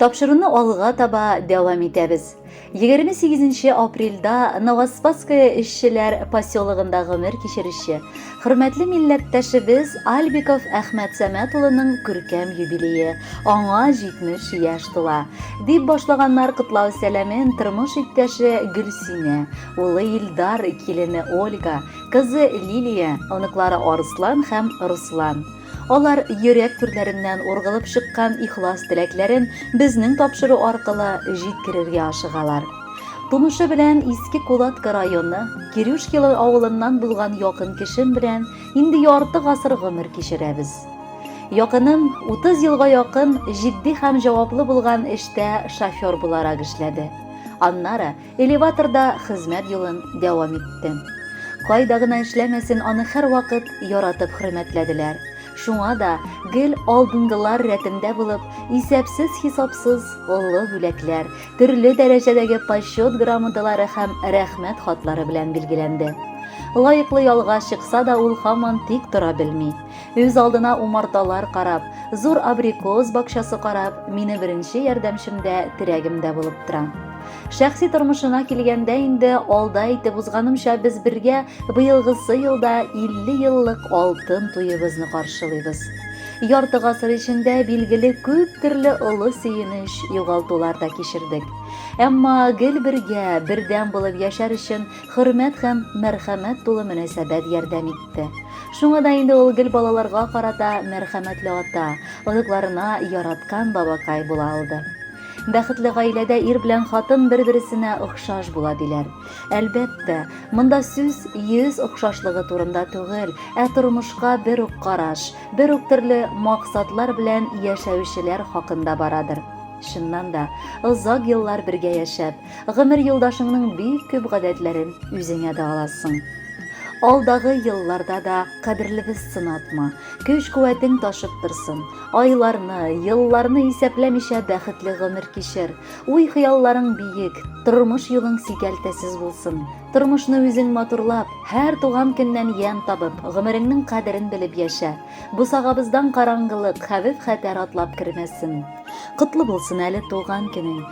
Тапшыруны алга таба дәвам итәбез. 28 апрельдә Новоспасское эшчеләр поселогында гомер кичерүче хөрмәтле милләттәшебез Альбиков Әхмәт Сәмәт улының күркәм юбилее, аңа 70 яшь тула. Дип башлаганнар котлау сәламен тормыш иптәше Гөлсинә, улы Илдар, килене Ольга, кызы Лилия, оныклары Арслан һәм Руслан. Алар йөрәк түрләреннән ургылып чыккан ихлас теләкләрен безнең тапшыру аркылы җиткерергә ашыгалар. Тумышы белән Иске Кулатка районы, Кирюшкилы авылыннан булган якын кешем белән инде ярты гасыр гомер кичерәбез. Якыным 30 елга якын җитди һәм җаваплы булган эштә шофер буларак эшләде. Аннары Элеваторда хезмәт юлын дәвам итте. Кайда гына эшләмәсен, аны һәрвакыт яратып хөрмәтләделәр. Шуңа да гел алдынгылар рәтендә булып, исәпсез-хисапсыз олы бүләкләр, төрле дәрәҗәдәге почет грамоталары һәм рәхмәт хатлары белән билгеләнде. Лаеклы ялга чыкса да ул һаман тик тора белми. Үз алдына умарталар карап, зур абрикос бакчасы карап, мине беренче ярдәмчем дә, терәгем дә булып тора. Шәхси тормышына килгәндә инде алда әйтеп узганымча без бергә быелгысы елда 50 еллык алтын туебызны каршылыйбыз. Ярты гасыр эчендә билгеле күп төрле олы сөенеч, югалтулар да кичердек. Әмма гел бергә, бердәм булып яшәр өчен хөрмәт һәм мәрхәмәт тулы мөнәсәбәт ярдәм итте. Шуңа да инде ул гел балаларга карата мәрхәмәтле ата, оныкларына яраткан бабакай була алды. Бәхетле гаиләдә ир белән хатын бер-бересенә охшаш була диләр. Әлбәттә, монда сүз йөз охшашлыгы турында түгел, ә тормышка бер үк караш, бер үк төрле максатлар белән яшәүчеләр хакында барадыр. Чыннан да, озак еллар бергә яшәп, Гомер юлдашыңның бик күп гадәтләрен үзеңә дә аласың. Алдагы елларда да кадерлебез сынатма, көч-куәтең ташып торсын. Айларны, елларны исәпләмичә бәхетле гомер кичер. Уй-хыялларың биек, тормыш юлың сикәлтәсез булсын. Тормышны үзең матурлап, һәр туган көннән ямь табып, гомереңнең кадерен белеп яшә. Бусагабыздан караңгылык, хәвеф-хәтәр атлап кермәсен. Котлы булсын әле туган көнең.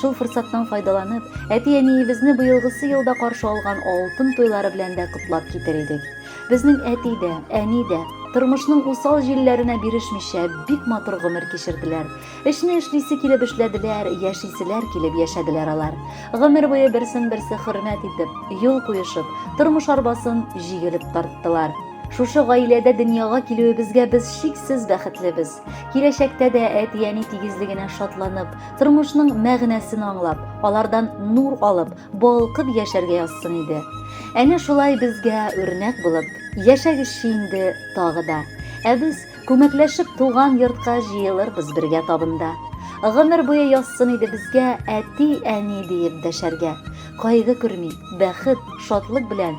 Шул форсаттан файдаланып, әти-әниебезне быелгысы елда каршы алган алтын туйлары белән дә котлап китер идек. Безнең әти дә, әни дә тормышның усал җилләренә бирешмичә бик матур гомер кичерделәр. Эшне эшлисе килеп эшләделәр, яшиселәр килеп яшәделәр алар. Гомер буе берсен-берсе хөрмәт итеп, юл куешып, тормыш арбасын җигелеп тарттылар. Шушы гаиләдә дөньяга килүебезгә без чиксез бәхетлебез. Киләчәктә дә әти-әни тигезлегенә шатланып, тормышның мәгънәсен аңлап, алардан нур алып, балкып яшәргә язсын иде. Әнә шулай безгә үрнәк булып, яшәгезче инде тагы да. Ә без күмәкләшеп туган йортка җыелырбыз бергә табында. Гомер буе язсын иде безгә әти-әни диеп дәшәргә. Кайгы күрми, бәхет, шатлык белән